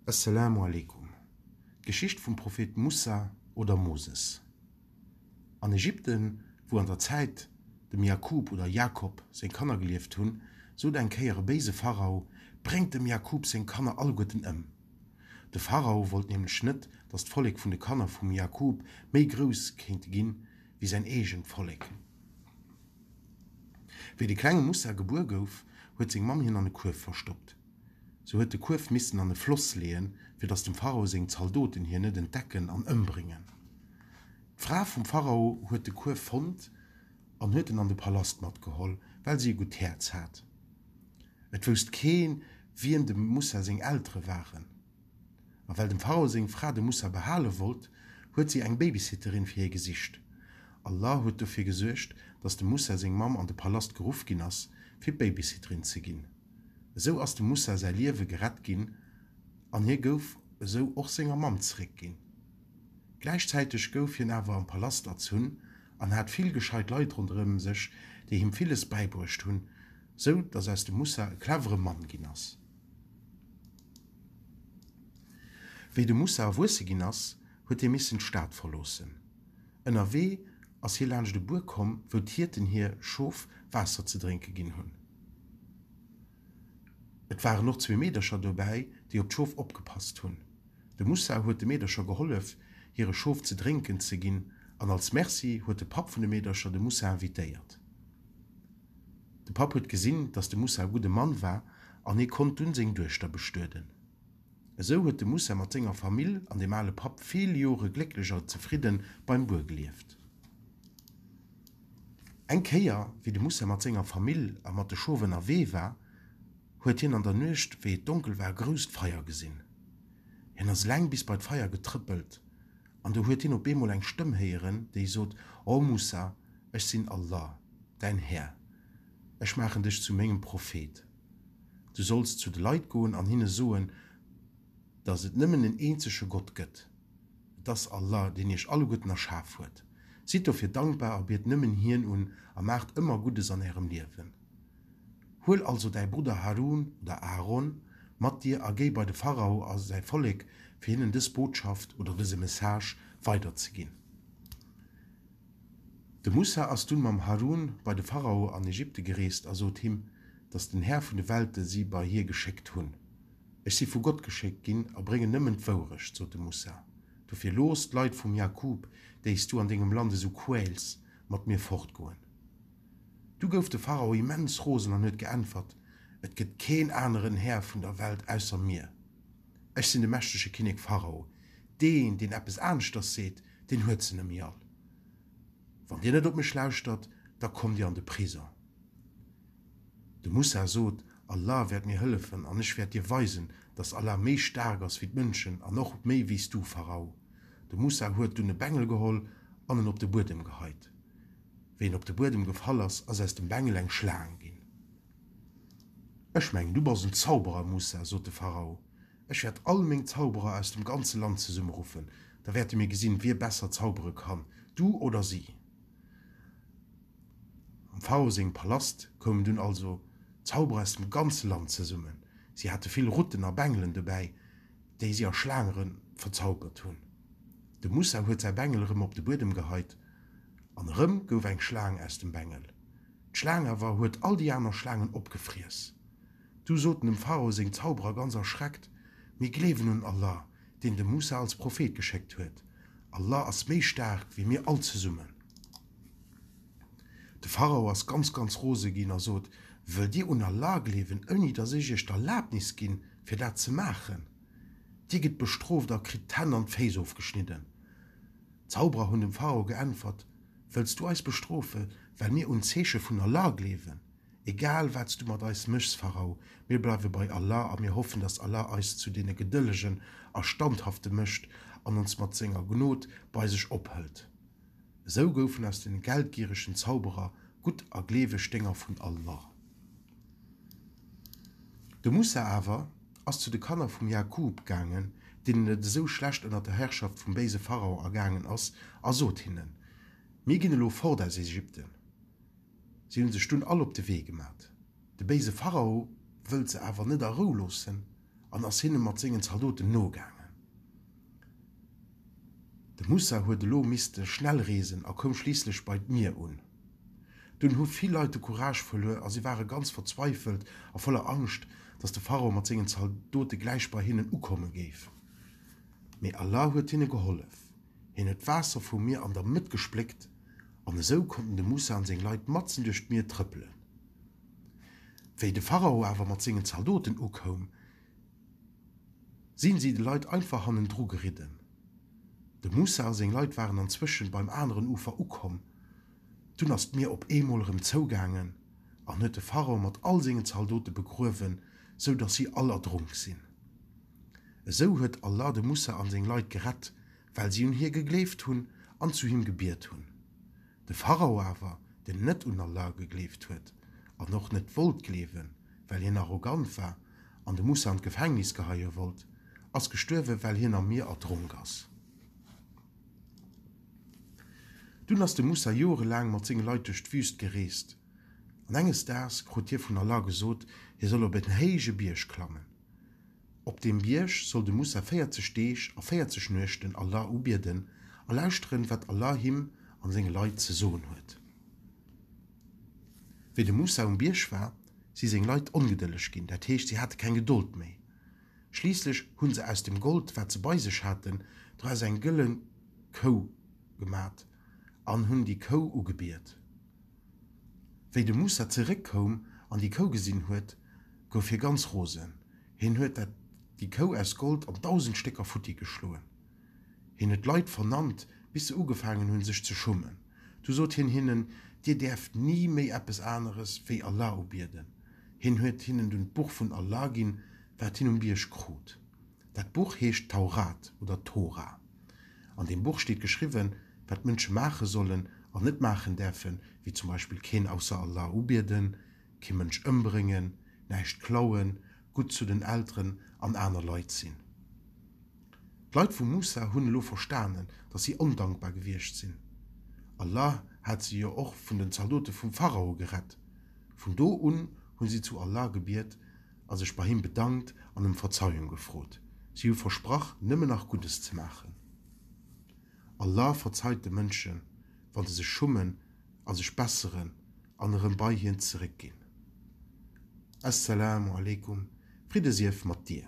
Esselamu aleykum. D'Geschicht vum Prophet Moussa oder Moses. An Ägypten, wou an der Zäit dem Jakub oder Jakob seng Kanner gelieft hunn, sot eng Kéier e béise Pharao, Bréngt dem Jakub seng Kanner alleguerten ëm! De Pharao wollt nämlech net, datt d'Vollek vun de Kanner vum Jakub méi grouss kéinte ginn, wéi säin eegent Vollek. Wéi de klenge Moussa gebuer gouf, huet seng Mamm hien an e Kuerf verstoppt. Se huet de Kuerf missen an e Floss leeën, fir datt dem Pharao seng Zaldoten hien net entdecken an ëmbréngen. D'Fra vum Pharao huet de Kuerf fonnt an huet en an de Palast matgeholl, well si e gutt Häerz hat. Et wousst keen, wien dem Moussa seng Eltere waren. A well dem Pharao seng Fra de Mussa behale wollt, huet si eng Babysitterin fir hie gesicht. Allah huet dofir gesuergt, dass dem Mussa seng Mamm an de Palast geruff ginn ass, fir Babysitterin ze ginn. Esou ass dem Mussa säi Liewe gerett ginn an hie gouf esou och senger Mamm zeréck ginn. Gläichzäiteg gouf hien awer am Palast erzunn an hat vill gescheit Leit ronderëm sech, déi him villes bäibruecht hunn, sou dass aus dem Mussa e clevere Mann ginn ass. Wéi de Moussa erwuesse ginn ass, huet hie missen d'Stad verloossen. Ënnerwee ass hie laanscht e Buer komm, wou d'Hierten hir Schof Waasser ze drénke ginn hunn. Et waren och zwee Meedercher dobäi, déi op d'Schof opgepasst hunn. De Moussa huet de Meedercher gehollef, hire Schof ze drénken ze ginn, an als Merci huet de Papp vun de Meedercher de Moussa invitéiert. De Papp huet gesinn, dass de Moussa e gudde Mann war an hie konnt dunn seng Duechter bestueden. Esou huet de Moussa mat senger Famill an dem ale Papp vill Jore glécklech a zefridde beim Buer gelieft. Eng Kéier, wéi de Moussa mat senger Famill a mat de Schof ënnerwee war, huet hien an der Nuecht, wéi et donkel war, e grousst Feier gesinn. Hien ass laang bis bei d'Feier getrëppelt An do huet hien op eemol eng Stëmm héieren, déi sot, O Mussa, ech sinn Allah, däin Här, ech maachen dech zu mengem Prophet. Du solls zu de Leit goen an hinne soen, dass et nëmmen en eenzege Gott gëtt, et ass Allah, deen iech alleguerten erschaf huet. Sidd dofir dankbar a biet nëmmen hien un a maacht ëmmer Guddes an ärem Liewen. Huel also däi Brudder Harun, oder Aaron, mat dir a géi bei de Pharao a säi Vollek, fir hinnen dës Botschaft, oder dëse Message, weiderzeginn. De Musa ass dunn mam Harun bei de Pharao an Ägypte gereest a sot him, dass den Här vun de Welte si bei hie geschéckt hunn. Ech si vu Gott geschéckt ginn a bréngen nëmmen d'Wourecht, sot de Musa. Dofir looss d'Leit vum Jaqûb, déi s du an dengem Land esou quäls, mat mir fortgoen. Du gouf de Pharao immens rosen an huet geäntwert, Et gëtt keen aneren Här vun der Welt ausser mir. Ech sinn de mächtege Kinnek Pharao. Deen, deen eppes aneschters seet, deen huet se nëmme all. Wann dir net op mech lauschtert, da kommt dir an de Prisong. De Mussa sot, Allah wäert mir hëllefen an ech wäert dir weisen, dass Allah méi staark ass wéi d'Mënschen an och méi wéi s du, Pharao. De Mussa huet dunn e Bengel geholl an en op de Buedem geheit. Wéi en op de Buedem gefall ass, ass aus dem Bengel eng Schlaang ginn. Ech mengen, du bass en Zauberer, Musa, sot de Pharao. Ech wäert all meng Zauberer aus dem ganze Land zesummeruffen. Da wäerte mir gesinn, wie besser zaubere kann, du oder si. Am Pharao sengem Palast koumen dunn also Zauberer aus dem ganze Land zesummen. Si hate vill Rutten a Bengelen dobäi, déi si a Schlaange verzaubert hunn. De Musa huet säi Bengel erëm op de Buedem geheit. An erëm gouf eng Schlaang aus dem Bengel. D'Schlaang awer huet all déi aner Schlaangen opgefriess. Du soten dem Pharao seng Zauberer ganz erschreckt, Mir gleewen un Allah, deen de Moussa als Prophet geschéckt huet. Allah ass méi staark wéi mir all zesummen. De Pharao ass ganz, ganz rose ginn a sot, Wëllt dir un Allah gleewen, ouni datt ech iech d'Erlabnis ginn, fir dat ze maachen? Dir gitt bestrooft a kritt d'Hänn an d'Féiss ofgeschnidden. D'Zauberer hunn dem Pharao geäntwert, Wëlls du eis bestrofe well mir un d'Zeeche vun Allah gleewen? Egal wat s du mat eis méchs, Pharao, mir bleiwe bei Allah a mir hoffen, datt Allah eis zu deene Gedëllegen a Standhafte mécht an ons mat senger Gnod bei sech ophëlt. Esou goufen aus deene geldgieregen Zauberer gutt a gleeweg Dénger vun Allah. De Mussa awer. ass zu de Kanner vum Jakub gaangen, deenen et esou schlecht ënner der Herrschaft vum béise Pharao ergaangen ass, a sot hinnen, Mir ginn elo fort aus Ägypten. Si hu sech dunn all op de Wee gemat. De béise Pharao wëllt se awer net a Rou loossen an ass hinne mat sengen Zaldoten nogaangen. De Moussa huet elo misste schnell reesen a koum schliisslech bei d'Mier un. Dunn hu vill Leit de Courage verluer a si ware ganz verzweifelt a voller Angscht, datt de Pharao mat sengen Zaldote gläich bei hinnen ukomme géif. Mee Allah huet hinne gehollef. Hien huet d'Waasser vum Mier an der Mëtt gespléckt an esou konnten de Moussa an seng Leit matzen duerch d'Mier trëppelen. Wéi de Pharao awer mat sengen Zaldoten ukoum, sinn si de Leit einfach hannendru geridden. Dem Moussa seng Leit waren anzwëschen beim aneren Ufer ukomm. Dunn ass d'Mier op eemol erëm zougaangen an huet de Pharaon mat all sengen Zaldote begruewen, sou dass si all erdronk sinn. Esou huet Allah de Moussa an seng Leit gerett, well si un hie gegleeft hunn an zu him gebiet hunn. De Pharao awer, den net un Allah gegleeft huet an och net wollt gleewen, well hien arrogant war, an de Moussa an d'Gefängnis geheie wollt, ass gestuerwen, well hien am Mier erdronk ass. Dunn ass de Moussa jorelaang mat senge Leit duerch d'Wüst gereest, an enges Daags krut hie vun Allah gesot, hie soll op en héije Bierg klammen. Op deem Bierg soll de Moussa 40 Deeg a 40 Nuechten Allah ubieden a lauschteren, wat Allah him a senge Leit ze soen huet. Wéi de Moussa um Bierg war, si seng Leit ongedëlleg ginn, dat heescht, si hate keng Gedold méi. Schliisslech hu se aus dem Gold, wat se bei sech haten, doraus eng gëllen Kou gemat an hunn déi Kou ugebiet. Wéi de Mussa zeréckkoum an déi Kou gesinn huet, gouf hie ganz rosen. Hien huet dat déi Kou aus Gold an dausend Stécker futti geschloen. Hien huet d'Leit vernannt, bis se ugefaangen hunn, sech ze schummen. Du sot hien hinnen, Dir däerft ni méi eppes aneres wéi Allah ubieden. Hien huet hinnen dunn d'Buch vun Allah ginn, wat hien um Bierg krut. Dat Buch heescht d'Taurat oder Tora. An deem Buch steet geschriwwen, wat d'Mënsche maache sollen an net maachen däerfen, wéi zum Beispill keen ausser Allah ubieden, kee Mënsch ëmbréngen, näischt klauen, gutt zu den Elteren an aner Leit sinn. D'Leit vu Musa hunn elo verstanen, datt si ondankbar gewiescht sinn. Allah hat se jo och vun den Zaldote vum Pharao gerett. Vun do un hu si zu Allah gebiet a sech bei him bedankt an ëm Verzeiung gefrot. Si hu versprach, nëmmen nach Guddes ze maachen. Allah verzeit de Mënschen, wa se sech schummen a sech besseren an erëm bei Hien zeréckginn. As-Salaamu alaykum, Fridde sief mat dir!